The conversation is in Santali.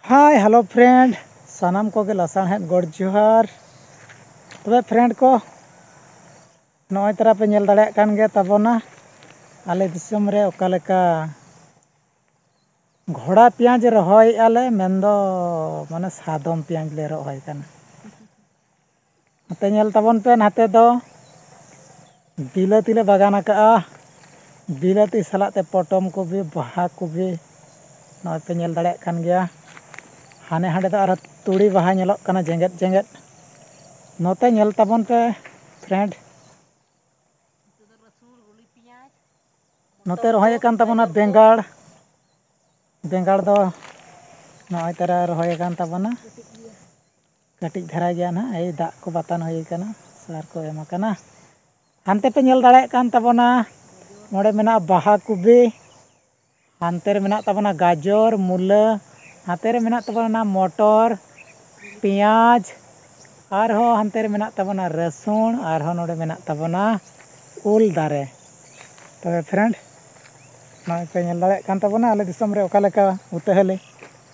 ᱦᱟᱭ ᱦᱮᱞᱳ ᱯᱷᱨᱮᱱᱰ ᱥᱟᱱᱟᱢ ᱠᱚᱜᱮ ᱞᱟᱥᱟᱬᱦᱮᱫ ᱜᱚᱰ ᱡᱚᱦᱟᱨ ᱛᱚᱵᱮ ᱯᱷᱨᱮᱱᱰ ᱠᱚ ᱱᱚᱜᱼᱚᱭ ᱛᱟᱨᱟ ᱯᱮ ᱧᱮᱞ ᱫᱟᱲᱮᱭᱟᱜ ᱠᱟᱱ ᱜᱮᱭᱟ ᱛᱟᱵᱚᱱᱟ ᱟᱞᱮ ᱫᱤᱥᱚᱢ ᱨᱮ ᱚᱠᱟ ᱞᱮᱠᱟ ᱜᱷᱚᱲᱟ ᱯᱮᱸᱭᱟᱡᱽ ᱨᱚᱦᱚᱭᱮᱫᱼᱟ ᱞᱮ ᱢᱮᱱᱫᱚ ᱢᱟᱱᱮ ᱥᱟᱫᱚᱢ ᱯᱮᱸᱭᱟᱡᱽ ᱞᱮ ᱨᱚᱦᱚᱭ ᱠᱟᱱᱟ ᱱᱚᱛᱮ ᱧᱮᱞ ᱛᱟᱵᱚᱱ ᱯᱮ ᱱᱟᱛᱮ ᱫᱚ ᱵᱤᱞᱟᱹᱛᱤ ᱞᱮ ᱵᱟᱜᱟᱱ ᱟᱠᱟᱜᱼᱟ ᱵᱤᱞᱟᱹᱛᱤ ᱥᱟᱞᱟᱜ ᱛᱮ ᱯᱚᱴᱚᱢ ᱠᱚᱯᱤ ᱵᱟᱦᱟ ᱠᱚᱯᱤ ᱱᱚᱜᱼᱚᱭ ᱯᱮ ᱧᱮᱞ ᱫᱟᱲᱮᱭᱟᱜ ᱠᱟᱱ ᱜᱮᱭᱟ ᱦᱟᱱᱮ ᱦᱟᱸᱰᱮ ᱫᱚ ᱟᱨᱦᱚᱸ ᱛᱩᱲᱤ ᱵᱟᱦᱟ ᱧᱮᱞᱚᱜ ᱠᱟᱱᱟ ᱡᱮᱜᱮᱫ ᱡᱮᱜᱮᱫ ᱱᱚᱛᱮ ᱧᱮᱞ ᱛᱟᱵᱚᱱ ᱯᱮ ᱯᱷᱨᱮᱱᱰ ᱱᱚᱛᱮ ᱨᱚᱦᱚᱭ ᱟᱠᱟᱱ ᱛᱟᱵᱚᱱᱟ ᱵᱮᱸᱜᱟᱲ ᱵᱮᱸᱜᱟᱲ ᱫᱚ ᱱᱚᱜᱼᱚᱭ ᱛᱚᱨᱟ ᱨᱚᱦᱚᱭ ᱟᱠᱟᱱ ᱛᱟᱵᱚᱱᱟ ᱠᱟᱹᱴᱤᱡ ᱫᱷᱟᱨᱟ ᱜᱮᱭᱟ ᱱᱟᱦᱟᱜ ᱮᱭ ᱫᱟᱜ ᱠᱚ ᱵᱟᱛᱟᱱ ᱦᱩᱭ ᱟᱠᱟᱱᱟ ᱥᱟᱨ ᱠᱚ ᱮᱢ ᱟᱠᱟᱱᱟ ᱦᱟᱱᱛᱮ ᱯᱮ ᱧᱮᱞ ᱫᱟᱲᱮᱭᱟᱜ ᱠᱟᱱ ᱛᱟᱵᱚᱱᱟ ᱱᱚᱰᱮ ᱢᱮᱱᱟᱜᱼᱟ ᱵᱟᱦᱟ ᱠᱚᱯᱤ ᱦᱟᱱᱛᱮ ᱨᱮ ᱢᱮᱱᱟᱜ ᱛᱟᱵᱚᱱᱟ ᱜᱟᱡᱚᱨ ᱢᱩᱞᱟᱹ ᱦᱟᱱᱛᱮ ᱨᱮ ᱢᱮᱱᱟᱜ ᱛᱟᱵᱚᱱᱟ ᱢᱚᱴᱚᱨ ᱯᱮᱸᱭᱟᱡᱽ ᱟᱨᱦᱚᱸ ᱦᱟᱱᱛᱮ ᱨᱮ ᱢᱮᱱᱟᱜ ᱛᱟᱵᱚᱱᱟ ᱨᱟᱹᱥᱩᱱ ᱟᱨᱦᱚᱸ ᱱᱚᱰᱮ ᱢᱮᱱᱟᱜ ᱛᱟᱵᱚᱱᱟ ᱩᱞ ᱫᱟᱨᱮ ᱛᱚᱵᱮ ᱯᱷᱨᱮᱱᱰ ᱱᱚᱜᱼᱚᱭ ᱯᱮ ᱧᱮᱞ ᱫᱟᱲᱮᱭᱟᱜ ᱠᱟᱱ ᱛᱟᱵᱚᱱᱟ ᱟᱞᱮ ᱫᱤᱥᱚᱢ ᱨᱮ ᱚᱠᱟ ᱞᱮᱠᱟ ᱩᱛᱟᱹ ᱦᱟᱹᱞᱤ